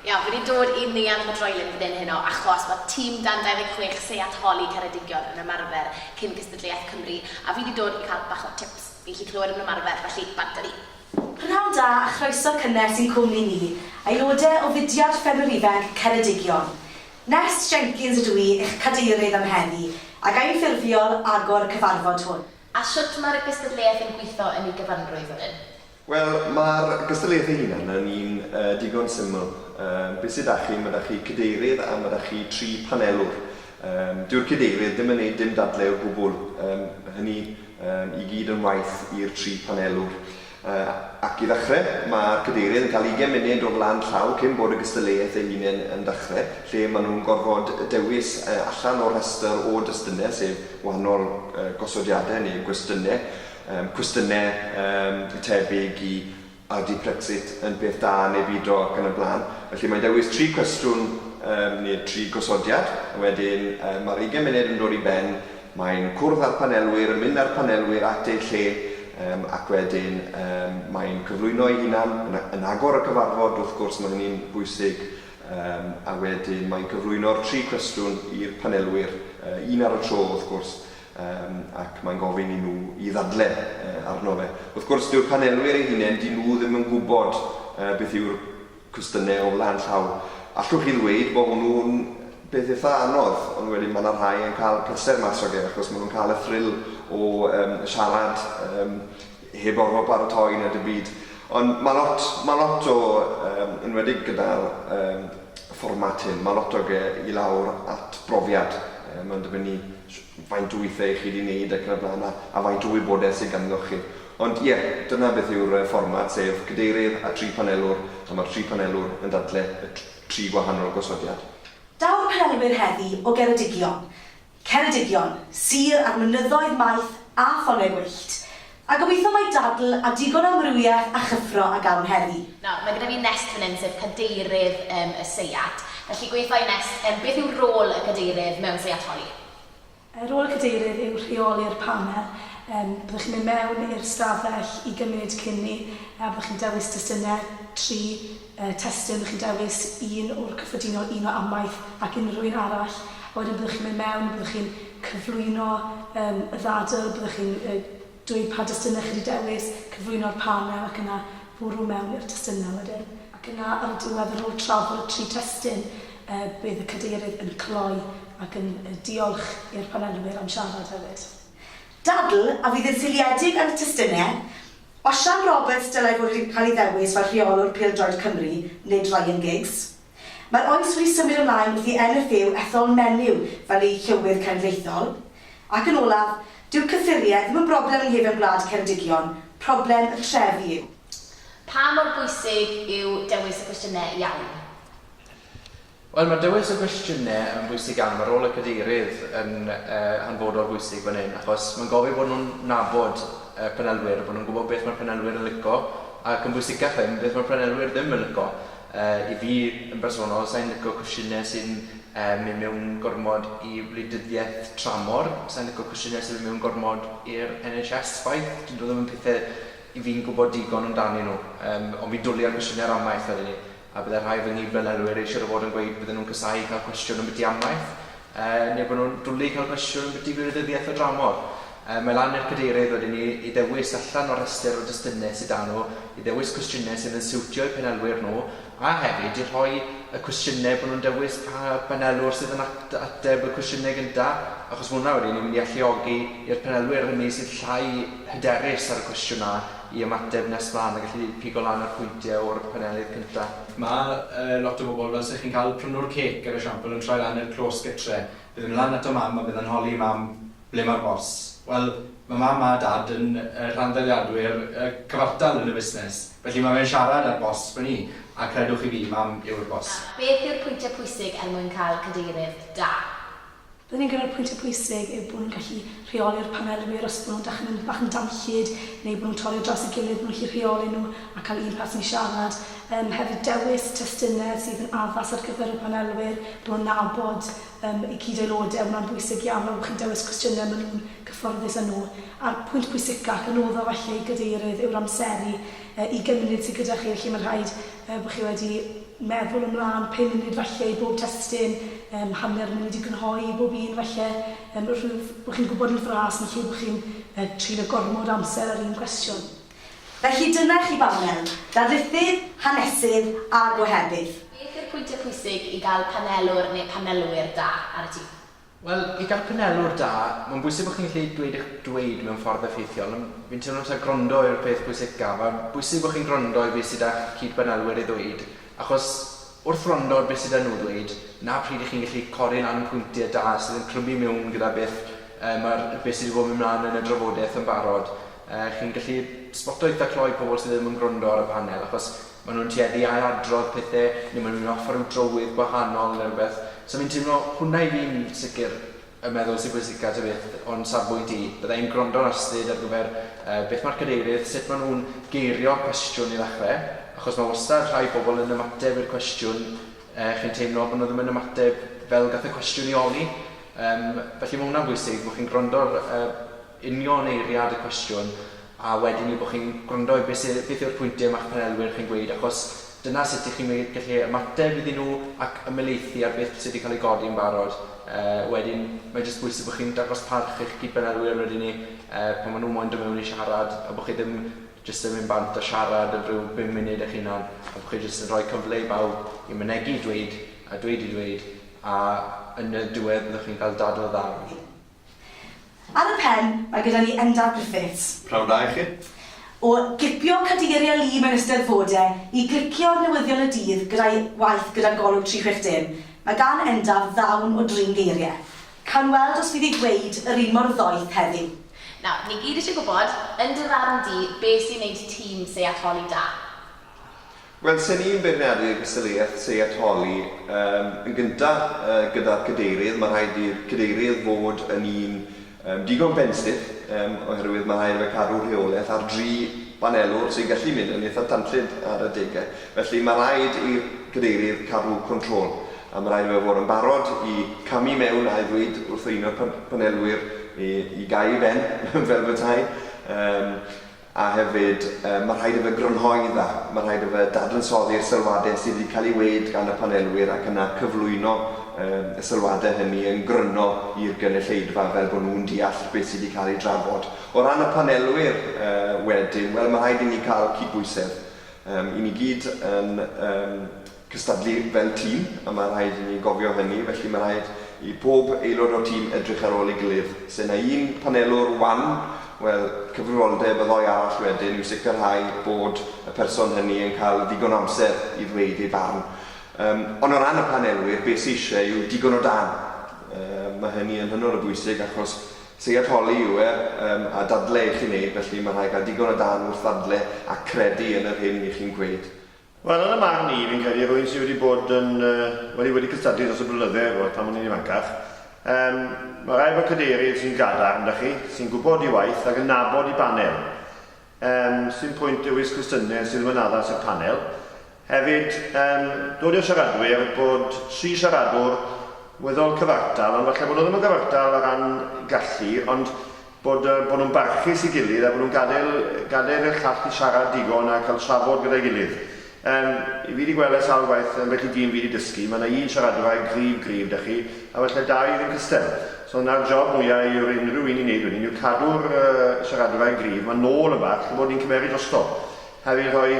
Iawn, fi wedi dod i Neuadd y Droelyn fan hyn heno achos mae tîm dan 26 Seiat Holi Ceredigion yn ymarfer cyn gystadleuaeth Cymru a fi wedi dod i cael bach o tips. Fi'n gallu clywed nhw'n ymarfer, felly bant â fi! Prynhawn da a chroeso cynnes i'n cwmni ni, aelodau o fudiad Ffermwyr Ifanc Ceredigion. Nest Jenkins ydw i, eich cadeirydd am heddi, a ga i'n ffurfiol agor y cyfarfod hwn. A shwt mae'r gystadleuaeth yn gweithio yn ei gyfanrwydd, wedyn? Wel, mae'r gystadleuaeth ei hunan yn un digon syml. Be sy 'da chi, mae 'da chi cadeirydd a mae 'da chi tri panelwr. Dyw'r cadeirydd ddim yn neud dim dadle o gwbwl. Mae hynny i gyd yn waith i'r tri panelwr. Ac i ddechrau, mae'r Cadeirydd yn cael ugain munud o flaen llaw cyn bod y gystadleuaeth ei hunain yn dechrau, lle maen nhw'n gorfod dewis allan o'r rhestr o destunau, sef wahanol gosodiadau neu gwestiynau, cwestiynau tebyg i A ydy Brexit yn peth da neu bido ac yn y blaen. Felly mae'n dewis tri cwestiwn neu tri gosodiad a wedyn mae'r ugain munud yn dod i ben, Mae'n cwrdd â'r panelwyr, yn mynd â'r panelwyr at eu lle um, ac wedyn um, mae'n cyflwyno ei hunan yn, yn agor y cyfarfod, wrth gwrs mae hynny'n bwysig, um, a wedyn mae'n cyflwyno'r tri cwestiwn i'r panelwyr, uh, un ar y tro wrth gwrs, um, ac mae'n gofyn i nhw i ddadle uh, arno fe. Wrth gwrs, dyw'r panelwyr eu hunain, dyn nhw ddim yn gwybod uh, beth yw'r Cwestiwn neu o flaen llaw. Allwch chi ddweud bod hwnnw'n beth eitha anodd, ond wedyn mae 'na rhai yn cael pleser mas o ge, achos maen nhw'n cael y thrill o um, siarad um, heb orfod paratoi na dim byd. Ond mae lot, mae lot o, um, enwedig gyda'r um, fformat hyn, mae lot o ge i lawr at brofiad. Um, mae'n dibynnu faint o weithiau chi wedi wneud ac yn y blaen a, a faint o wybodaeth sydd ganddoch chi. Ond ie, dyna beth yw'r fformat, sef cadeirydd a tri phanelwr, a mae'r tri phanelwr yn dadle y tri gwahanol gosodiad. Daw'r panelwyr heddi o Geredigion, Ceredigion, Sir a'r Mynyddoedd Maith a Ffonau Gwyllt, a gobeithio mai dadl a digon o amrywiaeth a chyffro a gawn heddi. Nawr, mae gyda fi Nest fan hyn, sef cadeirydd y seiat, felly gweitha i Nest, beth yw rôl y cadeirydd mewn seiat holi? Yy rôl y Cadeirydd yw rheoli'r panel. Yym byddwch chi'n mynd mewn i'r ystafell i gymyd cyn 'ny a byddwch chi'n dewis testunau, tri yy testun, byddwch chi'n dewis un o'r cyffredinol, un o amaeth ac unrhyw un arall a wedyn byddwch chi'n mynd mewn a byddwch chi'n cyflwyno yym y ddadl, byddwch chi'n yy Dweud pa destunau chi wedi dewis, cyflwyno'r panel ac yna bwrw mewn i'r testunau wedyn. Ac yna ar y diwedd, ar ôl trafod y tri testun, bydd y Cadeirydd yn cloi ac yn diolch i'r panelwyr am siarad hefyd. Dadl a fydd yn seiliedig ar y testunau, Osian Roberts dylai fod wedi cael ei ddewis fel rheolwr pêl-droed Cymru, nid Ryan Giggs. Mae'r oes wedi symud ymlaen wrth i NFU ethol menyw fel eu llywydd cenedlaethol. Ac yn olaf, dyw cyffuriau ddim yn broblem yng nghefn gwlad Ceredigion, problem y trefi yw. Pa mor bwysig yw dewis y cwestiynau iawn? Wel, mae dewis y gwestiynau yn bwysig iawn. Mae rôl y Cadeirydd yn hanfodol bwysig fan hyn, achos mae'n gofyn bod nhw'n nabod y panelwyr, bod nhw'n gwybod beth mae'r panelwyr yn licio, ac yn bwysicach ddim, beth mae'r panelwyr ddim yn licio. I fi yn bersonol, sa i'n lico cwsiyne sy'n mynd mewn gormod i wleidyddiaeth tramor, sa i'n lico cwsiyne sy'n mynd mewn gormod i'r NHS chwaith, dydyn nhw ddim yn pethe i fi'n gwbod digon amdanyn nhw, ond fi'n dwli ar gwsiyne'r amaeth wedyn 'ny, a bydde rhai o fy nghyd-fanylwyr eisiau fod yn gweud bydden nhw'n casáu cael cwestiwn ambyti amaeth, Er neu bod nhw'n dwlu cael cwestiwn ambiti gwleidyddiaeth o dramor, mae lan i'r Cadeirydd wedyn ni i ddewis allan o'r rhestr o destunau sy 'da nhw, i ddewis cwestiynau sydd yn siwtio eu panelwyr nhw, a hefyd i rhoi y cwestiynau bod nhw'n dewis pa banelwr sydd yn ateb y cwestiynau gyntaf, achos mae hwnna wedyn ni'n mynd i alluogi i'r panelwyr hynny sydd llai hyderus ar y cwestiwn 'na i ymateb nes mlaen a gallu pigo lan y pwyntiau o'r panelydd cyntaf. Mae yy lot o bobl, fel 'se chi'n cael prynwr cêc er esiampl, yn troi lan i'r clos gytre. Bydd e'n myn' lan ato Mam a bydd e'n holi Mam, 'Ble ma'r bors? Wel, ma' Mam a Dad yn yy rhanddeiliadwyr yy cyfartal yn y busnes, felly ma' fe'n siarad â'r bors fyn 'ny, a credwch chi fi, Mam yw'r bors. Beth yw'r pwyntiau pwysig er mwyn cael cadeirydd da? Byddwn i'n credu'r pwyntiau pwysig yw bod nhw'n gallu rheoli'r panelwyr os bod nhw'n dechrau mynd bach yn danllyd neu bod nhw'n torri ar draws ei gilydd, bod nhw'n gallu rheoli nhw a cael un person i siarad. Yym, hefyd dewis testunau sydd yn addas ar gyfer y panelwyr, bod nhw'n nabod yym eu cyd-aelodau, mae hwnna'n bwysig iawn, fel bod chi'n dewis cwestiynau maen nhw'n gyfforddus â nhw. A'r pwynt pwysica, ac anodda falle i gadeirydd, yw'r amseru yy ugain munud sydd gyda chi, felly mae'n rhaid yy bod chi wedi meddwl ymlaen pum munud falle i bob testun, yym hanner munud i grynhoi i bob un falle, yym rhyw bo' chi'n gwybod yn fras yn lle bo' chi'n yy treulio gormod o amser ar un cwestiwn. Felly dyna chi banel, darlithydd, hanesydd a gohebydd. Beth yw'r pwyntiau pwysig i gael panelwr neu panelwyr da ar y tîm? Wel, i gael panelwr da, mae'n bwysig bod chi'n gallu dweud eich dweud mewn ffordd effeithiol, ond fi'n teimlo taw gwrando yw'r peth pwysicaf. Mae'n bwysig bod chi'n gwrando i beth sydd 'da'ch cyd-banelwyr i ddweud, achos wrth wrando ar beth sydd 'da nhw ddweud, 'na pryd 'y chi'n gallu codi lan pwyntiau da sydd yn clymu miwn gyda beth yy ma'r beth sydd 'di bod yn mynd mlaen yn y drafodaeth yn barod. Yy chi'n gallu sboto eitha' clo i pobl sydd ddim yn gwrando ar y panel, achos Maen nhw'n tueddu i ail-adrodd pethau, neu maen nhw'n offer rhyw drywydd gwahanol neu rhywbeth. So fi'n teimlo, hwnna i fi'n sicr y meddwl sy'n pwysica ta beth o'n safbwynt i. Bydda i'n gwrando ar Astrid ar gyfer yy beth mae'r cadeirydd, sut maen nhw'n geirio'r cwestiwn i ddechrau, achos mae wastad rhai pobl yn ymateb i'r cwestiwn yy chi'n teimlo bod nhw ddim yn ymateb fel gath y cwestiwn ei holi. Yym felly mae hwnna'n bwysig, bod chi'n gwrando ar yy union eiriad y cwestiwn a wedyn yw bod chi'n gwrando i beth sy- beth yw'r pwyntiau ma'ch panelwyr chi'n gweud achos dyna sut y'ch chi'n me- gallu ymateb iddyn nhw ac ymhelaethu ar beth sy' 'di cael ei godi yn barod. Yy wedyn mae jyst bwysig bod chi'n dangos parch i'ch cyd-panelwyr wedyn 'ny yy pan ma' nhw moyn dod mewn i siarad a bod chi ddim jyst yn mynd bant a siarad am ryw bum munud eich hunan a bod chi jyst yn rhoi cyfle i bawb i mynegi dweud a dweud i dweud a yn y diwedd byddwch chi'n cael dadl dda wedyn. Ar y pen, mae gyda ni Endaf Griffiths. Pnawn da i chi. O gipio cadeiriau lu mewn Eisteddfodau i glicio ar newyddion y dydd gyda'i waith gyda Golwg 360, mae gan Endaf ddawn o drin geiriau. Cawn weld os fydd ei dweud yr un mor ddoeth heddiw. Nawr, ni gyd eisiau gwybod, yn dy farn di, beth sy'n wneud tîm seiatoli da? Wel, se ni'n beirniadu'r gystadleuaeth seiatoli yym yn gynta yy gyda'r cadeirydd, ma' rhaid i'r cadeirydd fod yn un yym digon benstiff yym oherwydd ma' rhaid i fe cadw rheoleth ar dri banelwr sy'n gallu mynd yn eitha tanllyd ar adege. Felly ma' rhaid i'r cadeirydd cadw control a ma' rhaid i fe fod yn barod i camu mewn a'i ddweud wrth un o'r pan- panelwyr i i gau i ben fel petai. Yym. A hefyd, mae rhaid i fe grynhoi'n dda. Mae rhaid i fe dadansoddi'r sylwadau sydd wedi cael ei wneud gan y panelwyr ac yna cyflwyno y sylwadau hynny yn gryno i'r gynulleidfa fel bod nhw'n deall beth sydd wedi cael ei drafod. O ran y panelwyr wedyn, wel, mae rhaid i ni cael cydbwysedd. I ni gyd yn cystadlu fel tîm, a mae rhaid i ni gofio hynny, felly mae rhaid i pob aelod o'r tîm edrych ar ôl ei gilydd. Se 'na un panelwr wan, wel, cyfrifoldeb y ddoi arall wedyn yw sicrhau bod y person hynny yn cael ddigon o amser i ddweud ei farn. Yym, ond o ran y panelwyr, be' sy isie yw digon o dân. Yy, mae hynny yn hynod o bwysig achos ceuad holi yw e, yym, a dadle 'ych chi'n neud, felly mae rhaid cael digon o dân wrth ddadle a credu yn yr hyn 'ych chi'n gweud. Wel, yn 'y marn i, fi'n credu, rhywun sy' wedi bod yn, wedi wedi cystadlu dros y blynydde, ch'mod, pan o'n i'n ifancach, yym, ma' raid bod cadeirydd sy'n gadarn 'da chi, sy'n gwbod 'i waith ac yn nabod 'i banel. Yym, sdim pwynt dewis cwestiyne sy' ddim yn addas i'r panel. Hefyd, yym, dod i'r siaradwyr, bod tri siaradwr weddol cyfartal, ond falle bo' nw ddim yn gyfartal o ran gallu, ond Bod, bod nhw'n barchus i gilydd a bod nhw'n gadael, gadael i'r llall i siarad digon a cael trafod gyda'i gilydd. Yym, fi wedi gweld e sawl gwaith, ambell i dîm fi wedi dysgu, mae yna un siaradwr a'i gryf gryf 'da chi, a falle dau fydd yn cystal. So 'na'r job mwya i yr unrhyw un i wneud wedyn yw cadw'r, yy, siaradwr a'i gryf 'ma nôl yn bach, chi'n gwybod, ni'n cymeryd drosto. Heb ei rhoi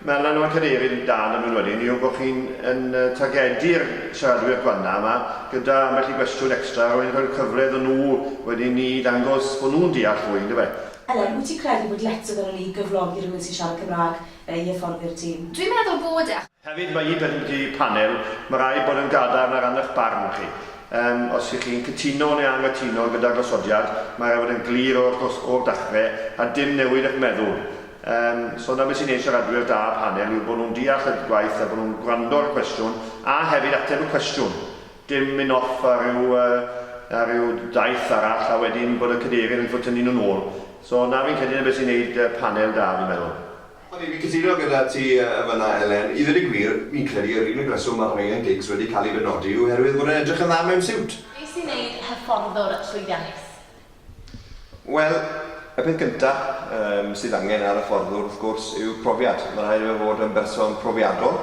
melan o'r Cadeirydd yn dal yn unwedyn yw bod chi'n yn targedu'r siaradwyr gwana yma gyda ambell i gwestiwn extra a wedyn rhoi'r cyfle iddyn nhw wedyn ni ddangos bod nhw'n deall fwy, yn dyfe? Elen, wyt ti'n credu bod letys arnon ni gyflogi rhywun sy'n siarad Cymraeg i hyfforddi'r tîm? Dwi'n meddwl bod e. Hefyd, mae un peth wedi'u panel, mae rhaid bod yn gadarn ar ran eich barn chi. Yym, os y'ch chi'n cytuno neu anghytuno gyda'r gosodiad, mae rhaid bod yn glir o'r dos- o'r dachre, a dim newid eich meddwl. Yym, so 'na beth sy'n neud siaradwyr da panel yw bod nhw'n deall y gwaith a bod nhw'n gwrando ar y cwestiwn, a hefyd ateb y cwestiwn. Dim myn' off ar ryw yy ar ryw daith arall a wedyn bod y cadeirydd yn ffwtynnu nhw'n ôl. So 'na fi'n credu 'na beth sy'n neud yy panel da fi'n meddwl. O'n i'n cytuno gyda ti yn fan'na Elen. I ddweud y gwir, fi'n credu yr unig reswm mae Ryan Giggs wedi cael ei benodi yw oherwydd fod e'n edrych yn dda mewn siwt. Be sy'n neud hyfforddwr llwyddiannus? Wel, y peth gynta yym sydd angen ar hyfforddwr wrth gwrs yw profiad. Mae'n rhaid iddo fe fod yn berson profiadol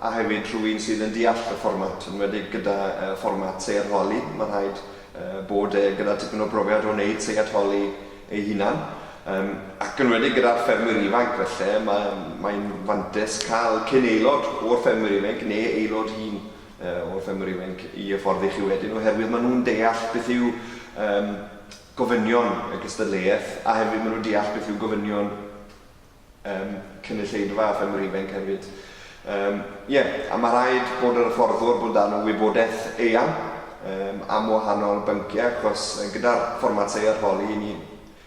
a hefyd rhywun sydd yn deall y fformat, yn enwedig gyda yy fformat seiat holi. Mae'n rhaid yy bod e gyda tipyn o brofiad o wneud seiat holi eu hunain, yym, ac yn enwedig gyda'r ffermwyr ifanc felly, mae, mae'n fantais cael cyn aelod o'r ffermwyr ifainc neu aelod hŷn yy o'r ffermwyr ifainc i hyfforddi chi wedyn oherwydd maen nhw'n deall beth yw yym gofynion y gystadleuaeth a hefyd maen nhw'n deall beth yw gofynion Yym, cynulleidfa a ffermwr ifainc hefyd. Yym, ie, a mae rhaid bod yr hyfforddwr bod dan y wybodaeth eang yym, am wahanol bynciau achos gyda'r fformatau arholi i ni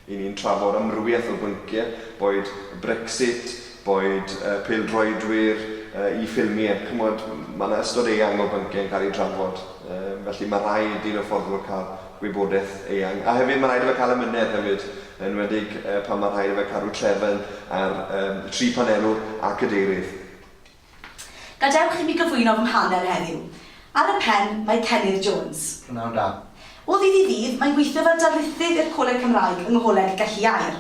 i ni'n trafod amrywiaeth o bynciau, boed Brexit, boed yy peldroedwyr, yy i ffilmiau, ch'mod, mae yna ystod eang o bynciau yn cael eu trafod, yym, felly mae rhaid i'r hyfforddwr cael gwybodaeth eang. A hefyd mae rhaid i fe cael amynedd hefyd, yn enwedig pan mae rhaid i fe cadw trefn ar tri phanerwr a Cadeirydd. Gadewch i mi gyflwyno fy mhaner heddiw. Ar y pen, mae Pennydd Jones. P'nawn da. O ddydd i ddydd, mae'n gweithio fel darlithydd i'r Coleg Cymraeg yng Ngholeg Galluaer.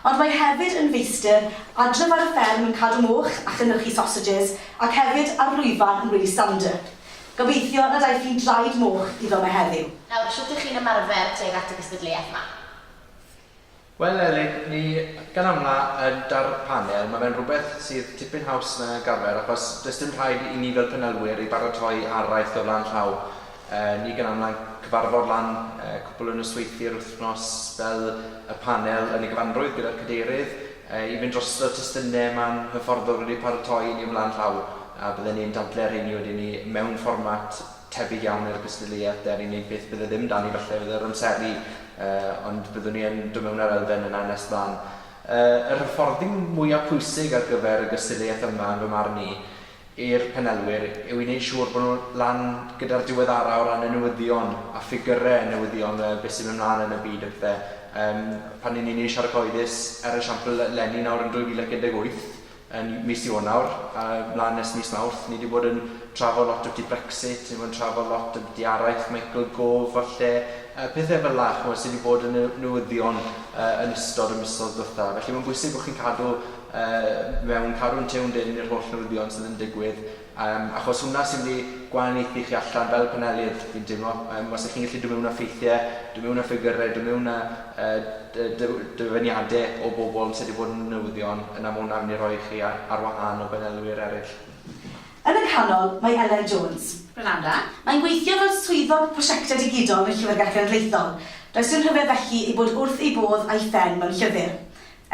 Ond mae hefyd yn feistr adref ar y fferm yn cadw moch a chynyrchu sausages ac hefyd ar lwyfan yn Wyllie Stanhope. Gobeithio nad aeth hi'n draed moch iddo 'ma heddiw. Nawr, shwt 'ych chi'n ymarfer tuag at y gystadleuaeth 'ma? Wel Elin, ni gan amla yn dar panel, mae fe'n rhywbeth sydd tipyn haws na gafael achos does dim rhaid i ni fel panelwyr ei baratoi araith o flaen llaw. Ni gan amla'n cyfarfod lan cwpl o nosweithie yr wythnos fel y panel yn ei gyfanrwydd gyda'r cadeirydd i fynd drosto testynne ma'n hyfforddwr wedi paratoi i ni o flaen llaw a bydden ni'n dadle rheini wedyn ni mewn fformat tebyg iawn i'r gystadleuaeth deni neu beth bydde ddim da ni falle fydd yr amseru uh, ond byddwn ni yn dod mewn ar elfen yna nes mlaen. Uh, yr hyfforddi mwyaf pwysig ar gyfer y gystadleuaeth yma yn fy marn i i'r penelwyr yw i wneud siŵr bod nhw lan gyda'r diweddara o ran y newyddion a ffigyrau newyddion uh, beth sy'n mynd mlaen yn y byd a pethau. Um, pan ni'n ei wneud siarad cyhoeddus, er esiampl, Lenny nawr yn 2018, yn mis Ionawr a mlaen nes mis Mawrth. Ni 'di bod yn trafod lot ambyti Brexit, ni 'di bod yn trafod lot ambyti araith, Michael Gove falle, yy pethe fel 'na ch'mod sy 'di bod yn ne- newyddion yy yn ystod y misodd dwetha. Felly mae'n bwysig bo' chi'n cadw yy mewn, cadw'n tuned in i'r holl newyddion sydd yn digwydd Yym, achos hwnna sy'n mynd i gwahaniaethu chi allan fel panelydd, fi'n teimlo. Yym, os 'y chi'n gallu dod mewn â ffeithiau, dod mewn â ffigyrau, dod mewn â yy dy- dy- dyfyniadau o bobl yn sut i fod yn newyddion, yna ma' hwnna'n mynd i roi chi ar ar wahân o banelwyr eraill. Yn y canol, mae Elen Jones. Granada. Mae'n gweithio fel Swyddog Prosiectau Digidol yn y Llyfrgell Genedlaethol. Does dim rhyfedd felly ei bod wrth ei bodd a'i phen mewn llyfr.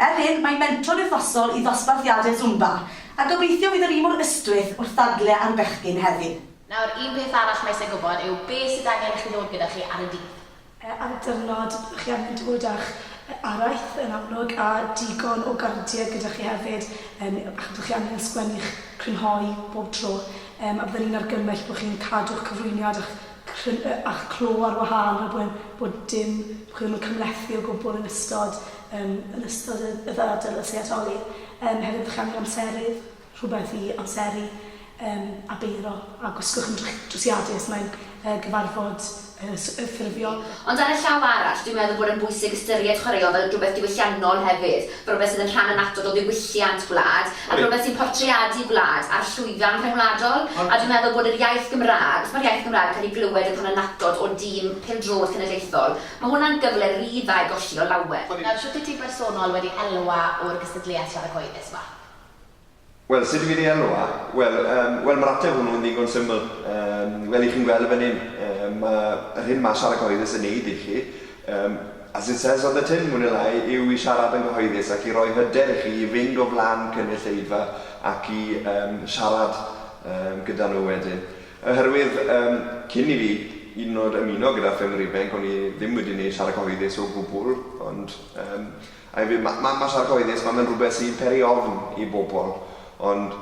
Er hyn, mae'n mentor wythnosol i ddosbarthiadau Zumba, a gobeithio fydd yr un mor ystwyth wrth ddadle ar bechgyn hefyd. Nawr, un peth arall mae eisiau gwybod yw be sydd angen i chi ddod gyda chi ar y dydd? Ar y diwrnod, byddwch chi angen dod â'ch araith, yn amlwg, a digon o gardiau gyda chi hefyd, yym, achos byddwch chi angen sgwennu eich crynhoi bob tro, yym, a bydden i'n argymell bod chi'n cadw'ch cyflwyniad a'ch cryn- yy a'ch clo ar wahân rhag bod bod dim, bod chi ddim yn cymhlethu o gwbl yn ystod Yn yn ystod y y ddadl y seiatoli yym hefyd bychan yn amserydd, rhywbeth i amseru yym a beiro a gwisgwch yn drych- drwsiadi os mae'n yy gyfarfod yy s- yy ffurfiol. Ond ar y llaw arall, dwi'n meddwl bod e'n bwysig ystyried chwaraeon fel rhywbeth diwylliannol hefyd, rhywbeth sydd yn rhan annatod o ddiwylliant gwlad, ac rhywbeth sy'n portreadu gwlad a'r llwyfan rhyngwladol, a dwi'n meddwl bod yr iaith Gymraeg, wrth mae'r iaith Gymraeg yn cael ei glywed yn rhan annatod o dîm pêl-droed cenedlaethol, Mae hwnna'n gyfle ry dda i golli o lawer. Nawr, shwt wyt ti bersonol wedi elwa o'r gystadleuaeth siarad cyhoeddus 'ma? Wel, sut dw i wedi elwa? Wel, yym, wel, mae'r ateb hwnnw yn ddigon syml. Yym, fel i chi'n gweld yn fan hyn, yym, mae yr hyn mae siarad cyhoeddus yn wneud i chi, yym, as it says on the tin, mwy neu lai, yw i siarad yn gyhoeddus ac i roi hyder i chi i fynd o flaen cynulleidfa ac i, yym, siarad, yym, gyda nhw wedyn. Oherwydd, yym, cyn i fi hyd yn o'd ymuno gyda Ffermwyr Ifainc o'n i ddim wedi neud siarad cyhoeddus o gwbwl, ond, yym, a hefyd ma' ma' ma' siarad cyhoeddus, ma' fe'n rwbeth sy'n peri ofn i bobol, ond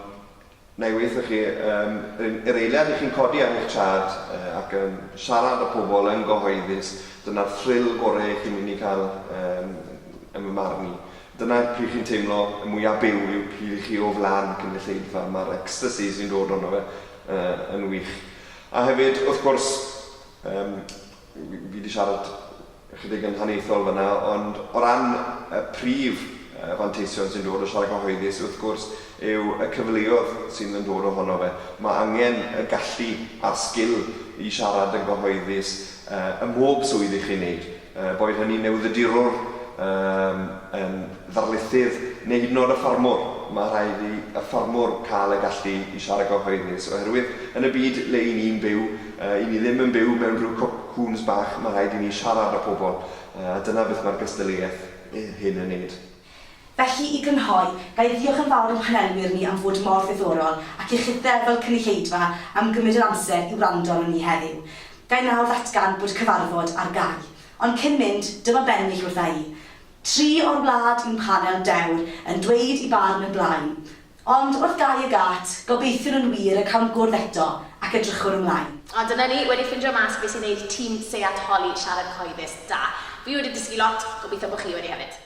nai weutho chi, yym, yr un- yr eiliad i chi'n codi ar eich traed, yy, ac yn siarad â pobol yn gyhoeddus, dyna'r thrill gore chi'n myn' i ca'l, yym, yn fy marn i. Dyna'r pryd chi'n teimlo y mwya byw yw pryd i chi o flan cynulleidfa, ma'r ecstasî sy'n dod ohono fe, yn wych. A hefyd, wrth gwrs, yym, fi 'di siarad ychydig yn haniaethol fan'na, ond o ran y prif fanteision sy'n dod o siarad cyhoeddus, wrth gwrs, yw y cyfleodd sydd yn dod ohono fe. Mae angen y gallu a'r sgil i siarad yn gyhoeddus ym mhob swydd 'y chi'n 'neud. Er boed hynny'n newyddiadurwr, yn ddarlithydd neu hyd yn oed y ffarmwr, mae rhaid i y ffarmwr cael y gallu i siarad gyhoeddus oherwydd yn y byd le y'n ni'n byw, y'n ni ddim yn byw mewn rhyw cwp cŵns bach, mae rhaid i ni siarad â pobl a dyna beth mae'r gystadleuaeth hyn yn 'neud. Felly, i grynhoi, ga i ddiolch yn fawr i'n panelwyr ni am fod mor ddiddorol, ac i chithau fel cynulleidfa am gymryd yr amser i wrando arnon ni heddiw. Ga i nawr ddatgan bod y cyfarfod ar gau. Ond cyn mynd, dyma bennill wrtha i. Tri o'r wlad yw'n panel dewr yn dweud i barn yn blaen. Ond, wrth gau y gât, gobeithiwn yn wir y cawn gwrdd eto, ac edrychwn ymlaen. A dyna ni, wedi ffindio mas be sy'n neud tîm Seiat Holi siarad cyhoeddus da. Fi wedi dysgu lot, gobeithio bo chi wedi hefyd.